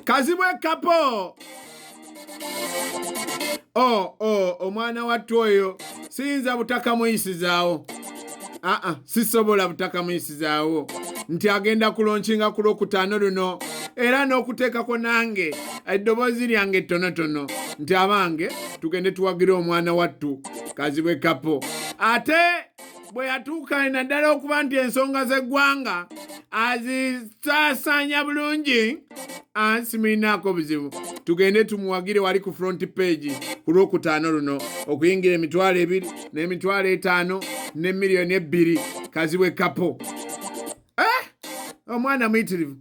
kazibwe kapo o oh, o oh, omwana wattu oyo siyinza butaka muyisizaawo aa ah, ah, sisobola butaka muyisizaawo nti agenda kulonkinga ku lwokutaano luno era n'okuteekako nange eddoboozi lyange ettonotono nti abange tugende tuwagire omwana wattu kazibwe kapo ate bwe yatuuka naddala okuba nti ensonga z'eggwanga azisaasaanya bulungi ansi mulinaako obuzibu tugende tumuwagire wali ku front page ku lwokutaano luno okuyingira emitwalo ebiri n'emitwalo etaano ne miliyoni ebbiri kazibwe kapo eh? omwana oh, muyitirivu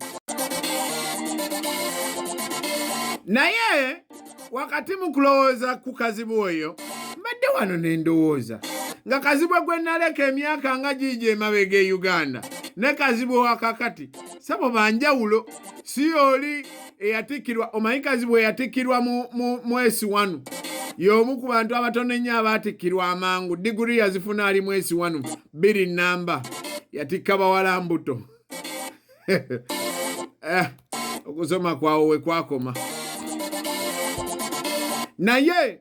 naye wakati mu kulowooza ku kazibu oyo mbadde wano ne ndowooza nga kazibwe gwe naleka emyaka nga giigi emabega e uganda ne kazibwe wakakati sabo banjawulo si oli eyatikkirwa omanyi kazibwe eyatikkirwa mwesi wanu y'omu ku bantu abatono ennyo abaatikkirwa amangu diguri yazifuna ali mwesi wanu bbiri namba yatikka bawala mbuto eh, okusoma kwawo we kwakoma naye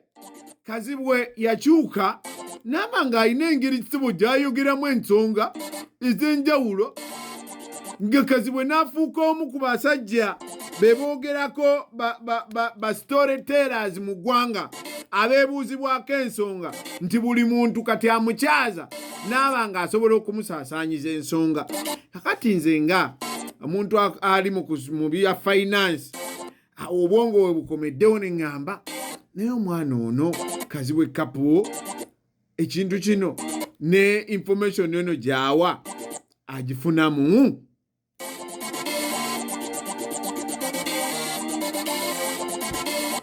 kazibwe yakyuka naaba ng'alina engeri kisibo gy'ayogeramu ensonga ez'enjawulo nga kazibwe n'afuuka omu ku basajja be boogerako basitore tellers mu ggwanga abeebuuzibwako ensonga nti buli muntu kati amukyaza n'aba nga asobola okumusaasaanyiza ensonga kakati nze nga omuntu ali mu bya finance obwongo we bukomeddewo ne ŋŋamba naye omwana ono kazibwe kapu ekintu kino ne information eno gyawa agifunamu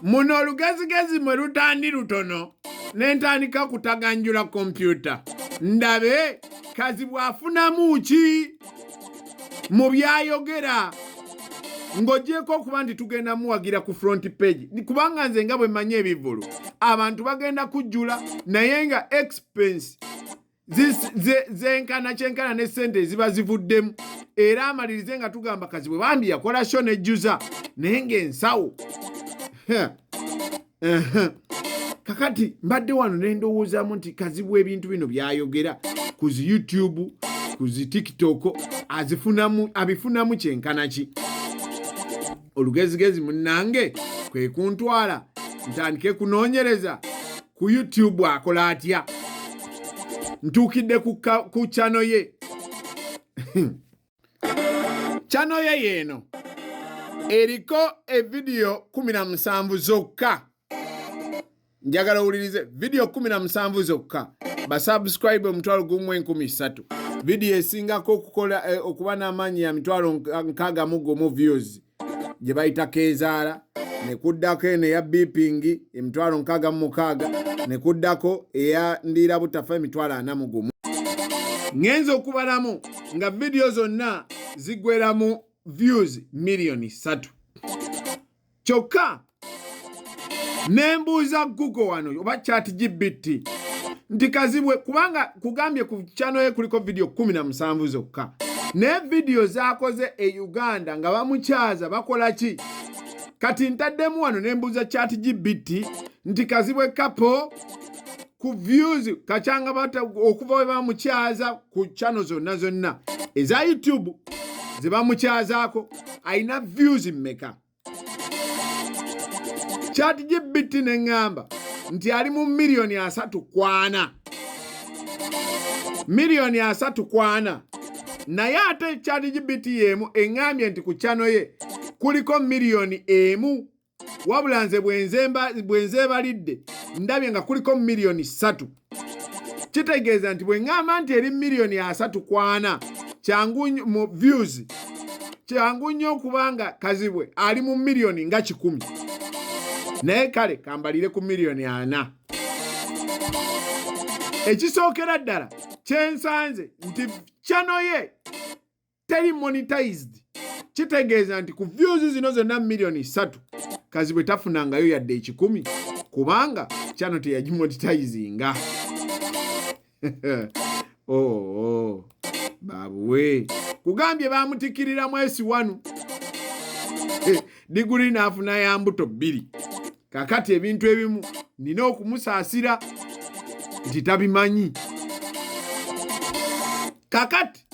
muno olugezigezi mwe lutandi lutono ne ntandika kutaganjula kompyuta ndabe kazi bwafunamu ki mu byayogera ng'ogyeko okuba nti tugenda muwagira ku front page kubanga nze nga bwe mmanyi ebivulu abantu bagenda kujjula naye nga expense zenkana kyenkana ne sente eziba zivuddemu era amalirize nga tugamba kazibwe bambi yakola sho nejjuza naye ngaensawo kakati mbadde wano nendowoozaamu nti kazibwa ebintu bino byayogera ku zi youtube ku zi tiktok azifunamu abifunamu kyenkana ki olugezigezi munnange kwe kuntwala ntandike kunoonyereza ku youtube akola atya ntuukidde ku kyano ye kyanoya yeeno eriko evidiyo 17 zokka njagala owulirize vidiyo 17 zokka basubscribe omutwalo gumu enkumi ssatu vidiyo esingako okukola eh, okuba n'amaanyi ya mitwalo nkaaga mu gumu views gye bayita keezaala ne kuddako eno eya bipingi emitwalo nkaaga mu mukaaga ne kuddako eya ndiira butafa emitwalo ana mu gumu ŋŋenza okubalamu nga vidiyo zonna ziggweramu views miliyoni ssatu kyokka ne mbuuza google wano oba chat gbt nti kazibwe kubanga kugambye ku kyano ye kuliko vidiyo kumi na musanvu zokka naye vidiyo zakoze e uganda nga bamukyaza bakola ki kati ntaddemu wano ne mbuuza chat gbt nti kazibwe kapo ku views kacanga bata okuva we bamukyaza ku kyano zonna zonna eza youtube ze bamukyazaako alina views mmeka chat gpt ne ŋŋamba nti ali mu miliyoni asatu kwana miliyoni asatu kwana naye ate chat gpt y'emu eŋŋambye nti ku kyano ye kuliko miliyoni emu wabula nze bwenzeebalidde ndabye nga kuliko miliyoni ssatu kitegeeza nti bwe ŋŋamba nti eri miliyoni asatu kwana kyangu mu views kyangu nnyo okuba nga kazibwe ali mu miliyoni nga kikumi naye kale kambalire ku miliyoni ana ekisookera ddala kyensanze nti kyano ye teri monetized kitegeeza nti ku views zino zonna millioni ssatu kazibwe tafunangayo yadde ekikumi kubanga kyano teyagimoditayizinga oo oh, oh. babuwe kugambye bamutikirira mwesi wanu eh, diguli naafuna ya mbuto bbiri kakati ebintu ebimu nina okumusaasira nti tabimanyi kakati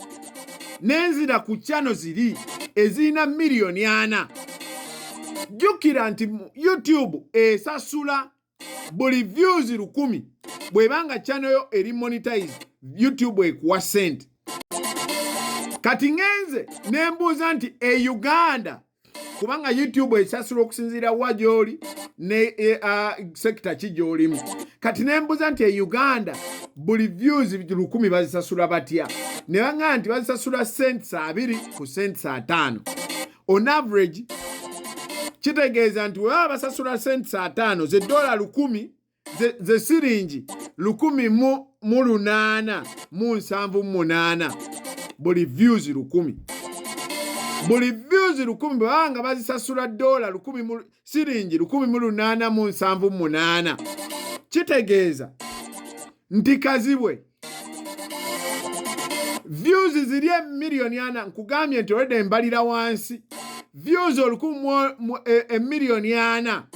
nenzira ku kyano ziri ezirina miliyoni ana jjukira nti youtube esasula buli views lukumi bwebanga kyano yo eri monetize youtube ekuwa sente kati ngenze nembuuza nti e uganda kubanga youtube esasula okusinziira wa gyoli ne e, sekita ki gyolimu kati nembuza nti e uganda buli views lukumi bazisasula batya ne baŋaa nti bazisasula cents abiri ku cents ataano on average kitegeeza nti webaba basasula cents ataano ze dola lukumi ze siringi lukumi mu lunaana mu nsanvu mu munaana buli views lukumi buli views lukumi bwebaba nga bazisasula dola siringi lukumi mu lunaana mu nsanvu mu munaana kitegeeza nti kazibwe views ziri emiliyoni ana nkugambye nti olwedde mbalira wansi views olukumi emiliyoni e, e ana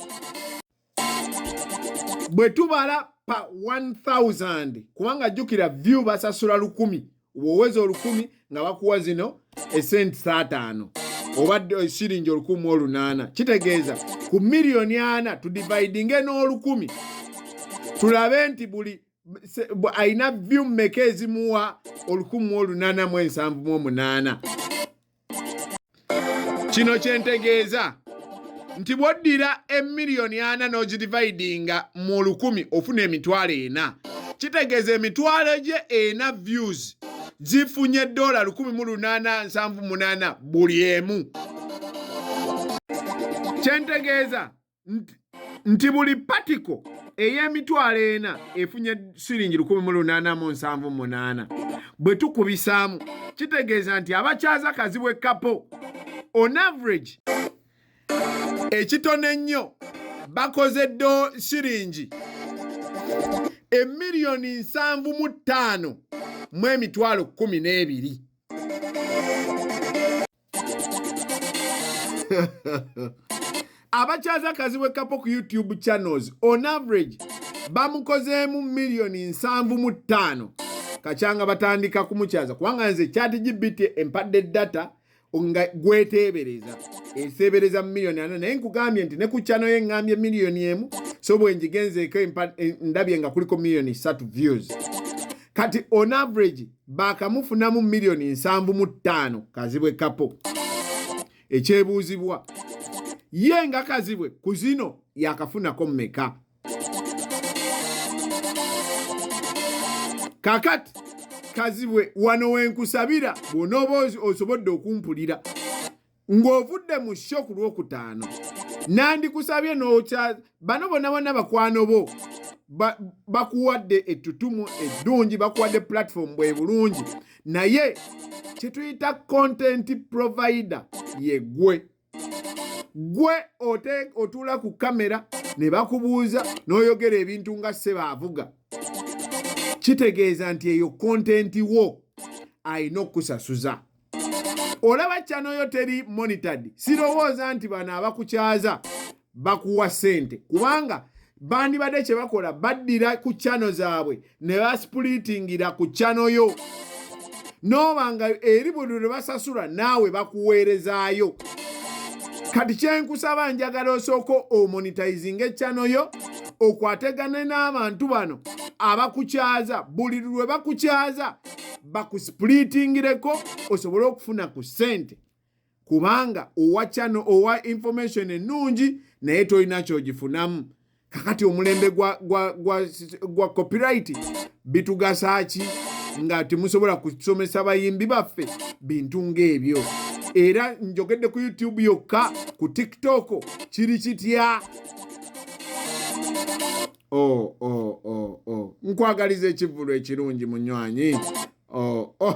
bwe tubala pa 1000 kubanga jjukira view basasula lukumi woweza olukumi nga bakuwa zino esenti saataano obadde eh, siringi olukumi olunaana kitegeeza ku miliyoni ana tudividinge n'olukumi tulabe nti buli alina view mmeka ezimuwa olukumi olunaana mu ensanvu mu omunaana kino kyentegeeza nti bwoddira emiliyoni ana n'ogidividinga mu lukumi ofuna emitwalo ena kitegeeza emitwalo gye ena views zifunye dola 1878 buli emu kyentegeeza nti buli patiko ey'emitwalo ena efunye siringi lukumi mu lunaana mu nsanvu munaana bwe tukubisaamu kitegeeza nti abakyaza kazibwe kapo on average ekitono ennyo bakoze do siringi emiliyoni nsanvu mu ttaano mu emitwalo kkumi n'ebiri abakyaza kazibwe kapo ku youtube channels on average bamukozeemu miliyoni nsanvu mu ttaano kakyanga batandika kumukyaza kubanga nze chat gbt empadde data nga gweteebereza eseebereza mu miliyoni ana naye nkugambye nti ne ku kyano ye ngambye miliyoni emu so bwenjigenzeeko ndabye nga kuliko miliyoni satu views kati on average baakamufunamu miliyoni nsanvu mu ttaano kazibwe kapo ekyebuuzibwa ye nga kazibwe ku zino yakafunako mumeka kakati kazibwe wano wenkusabira bwonooba osobodde okumpulira ng'ovudde mu sho ku lwokutaano nandikusabye n'okya bano bonna bonna bakwano bo bakuwadde ettutumu eddungi bakuwadde pulatifomu bwe bulungi naye kyetuyita kontenti provida ye gwe gwe otuula ku kamera ne bakubuuza n'oyogera ebintu nga sebaavuga kitegeeza nti eyo kontenti wo alina okusasuza olaba channel yo teri monitored sirowooza nti bano abakukyaza bakuwa sente kubanga bandibadde kye bakola baddira ku channel zaabwe ne basipulitingira ku channel yo nooba nga eri buli lwe basasula naawe bakuweerezaayo kati kyenkusaba njagala osooka omonitizinga echano yo okwategane n'abantu bano abakukyaza buli lwe bakukyaza bakusipulitingireko osobole okufuna ku ssente kubanga owa channel owa information ennungi naye tolina kyogifunamu kakati omulembe gwa, gwa, gwa, gwa copyright bitugasa ki nga temusobola kusomesa bayimbi baffe bintu ng'ebyo era njogedde ku youtube yokka ku tiktok kiri kitya oh, oh, oh, oh. nkwagaliza ekivulu ekirungi munywanyi oh, oh.